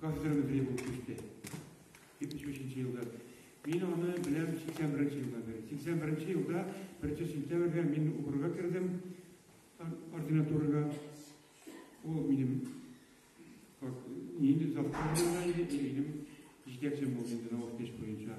Кафедрам зрелый кичте. 73 елда. Мин аны беләм 81 елда бер. 81 елда 1 сентябрьгә мин укырга кердем ординатурага. Ул минем как инде завтра иде, минем җитәкчем булды инде наукдеш буенча.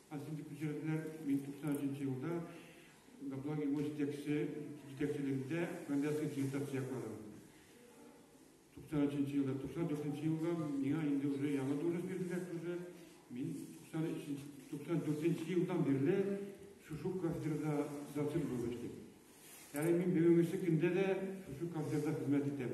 Ә син дип күчерделәр. Мин 93 нче елда Гаплаг Ивоч җитәкче җитәкчелегендә кандидатская диссертация якладым. 93 нче елда, 94 нче елда миңа инде уже яңа дурыс бирделәр тоже. Мин 94 нче елдан бирле шушы кафедрада зацик булып эшлим. Әле мин бүгенге көндә дә шушы кафедрада хезмәт итәм.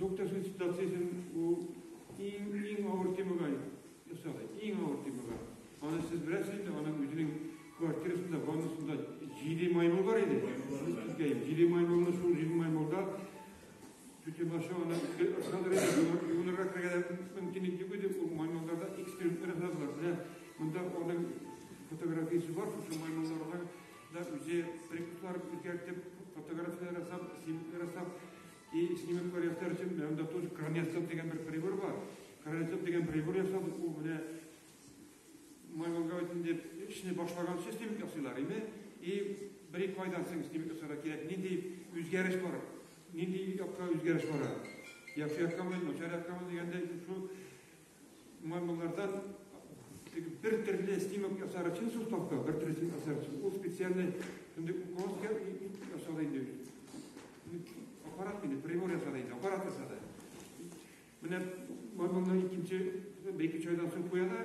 Докторсыз ситуациясен ул иң иң авыр темага ясады. Иң авыр темага. Аны сез беләсез инде, аның үзенең квартирасында, ваннасында җиде маймыл бар иде. Җиде маймылны шул җиде маймылда Тютемашы аны ышандыр иде, юынырга керергә мөмкинлек юк иде, ул маймылларда эксперимент ясадылар. Менә монда аның фотографиясе бар, шушы маймылларның Да, үзе прикуплар үзгәртеп, фотографияләр ясап, снимоклар ясап, и снимоклар ясар өчен менә анда тоже кранецоп дигән бер прибор бар. Кранецоп дигән прибор ясап, ул менә маймонга өчен дип эшне башлаганчы снимок ясыйлар иде. И бер-ике айдан соң снимок ясарга кирәк. Нинди үзгәреш бар? Нинди якка үзгәреш бара? Яхшы яккамы, начар яккамы дигәндә, шул Маймыллардан бер төрле снимок ясар өчен шул тапка, бер төрле снимок ясар өчен. Ул специальный инде уколка ясады инде. Аппарат инде, прибор ясады инде, аппарат ясады. Менә маймылны икенче, бәйке чайдан соң куяда,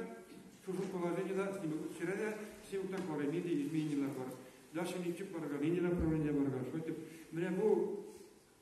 шушы положениеда снимок төшерә дә, снимоктан карай, нинди изменениялар бар. Дальше ничек барырга, нинди направление барырга, шулай итеп. Менә бу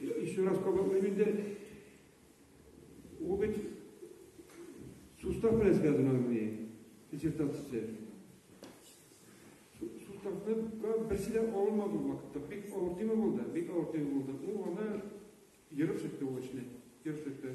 Еще раз кабатлыйм инде. Ул бит сустав белән связано мени диссертация. Суставны берсе дә алынмады ул вакытта. Бик авыр тема булды, бик авыр тема булды. Ул аны ерып чыкты ул эшне, ерып чыкты.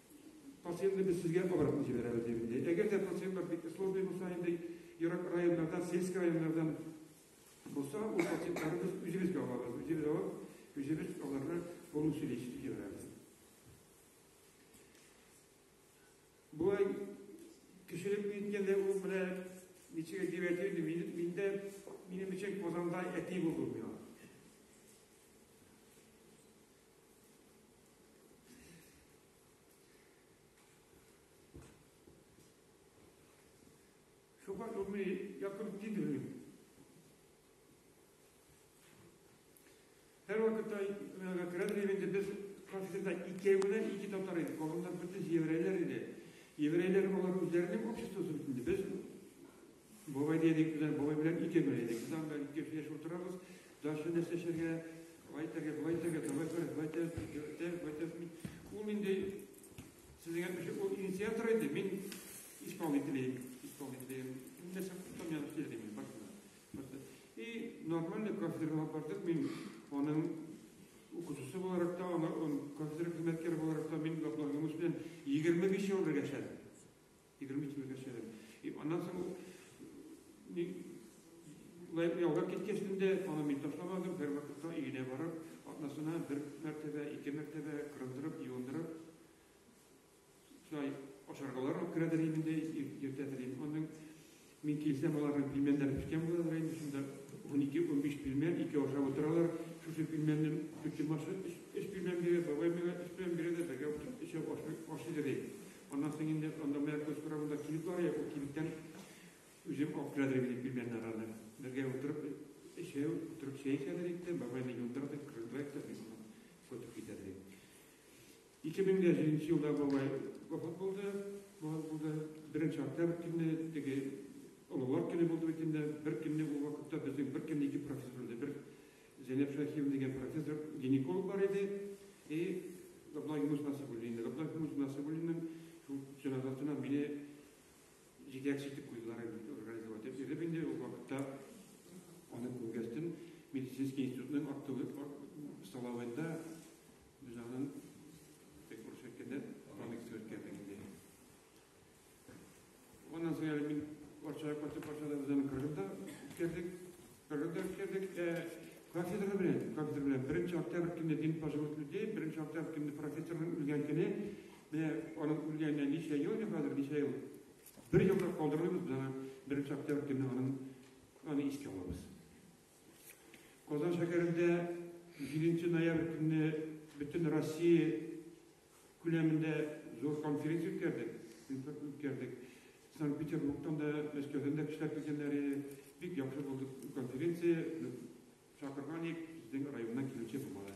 Пациентны без сезгә обратно җибәрәбез, дип инде. Әгәр дә пациентлар бик сложный булса, инде ерак районнардан, сельский районнардан булса, ул пациентларны без үзебезгә алабыз. Үзебез алып, үзебез аларны полностью лечить җибәрәбез. Болай кешелек ниткәндә ул менә ничек дип әйтер мин, миндә минем өчен Казанда әти булды миңа. Шуңа ми якын кидерим. Һәр вакытта керәм дигәндә без конфликтта икәвенә ике татар иде, калганнар бөтен еврейлар иде. Еврейлар алар үзләренең обществосы бит инде. Без Бабай дидек без, бабай белән ике генә идек. Без анда ике кеше яшәп утырабыз. Дальше нәрсә эшләргә? Вай тәгә, вай тәгә, давай күрәк, вай тәз, тәз, вай тәз. Ул инде сезгә кеше ул инициатор иде. Мин исполнителем, исполнителем. Нәрсә күптән янып килдем мин башына. И нормально кафедрага бардык. Мин аның укытучысы буларак та, аның кафедра хезмәткәре буларак та мин Габдулла Юнус белән 25 ел бергә эшләдем. Егерме икене кәчәдем. И аннан соң ни ялгап киткәч инде аны мин ташламадым, бер вакытта өенә барып, атнасына бер мәртәбә, ике мәртәбә кырындырып, юындырып, шулай ашаргалар алып керәдер инде, иртәдер инде. Аның Мин килсәм, аларның пилмәннәре пешкән булалар инде, шунда унике-унбиш пилмән, ике ашап утыралар. Шушы пилмәнне бөтен башы өч пилмән бирә, бабай миңа өч пилмән бирә дә, бергә утырып өчәү ашыйбыз, ди. Аннан соң инде анда моя күз каравында кибет бар иде, ул кибеттән үзем алып керә дидем, пилмәннәр аны. Бергә утырып, өчәү утырып чәй эчәләр иде, бабай мине юындыра да, кырыграк та, мин аны сотып китә дидем. 2007 елда бабай вафат булды. Вафат булды. Беренче октябрь көне теге олылар көне булды бит инде. Бер көнне ул вакытта безнең бер көнне ике профессор иде. Бер Зәйнәп Шәхиев дигән профессор гинеколог бар иде. И Габдулла Юнус Насыбуллин. Габдулла Юнус Насыбуллинның шул җеназасына мине җитәкче итеп куйдылар инде, организовать итеп. Ирем инде ул вакытта аны күргәстен медицинский институтның актовый столовында Җаным, тек бер шәккәдә комикс төркәтә инде. Оннан соң әле мин Варшава кайтып Варшавада үземне кыргызда үткәрдек. Кыргызда үткәрдек. Кафедра белән, кафедра белән беренче октябрь көне дин пожилых людей, беренче октябрь көне профессорның үлгән көне, менә аның үлгәненә ничә ел, хәзер ничә ел? Бер елда калдырмыйбыз, менә беренче октябрь көне аның аны искә алабыз. Казан шәһәрендә җиденче ноябрь көнне бөтен Россия күләмендә зур конференция үткәрдек. үткәрдек. Санкт-Петербургтан да, Мәскәүдән дә кешеләр килгәннәр иде. Бик яхшы булды конференция. Чакырган идек, безнең районнан килүче булмады.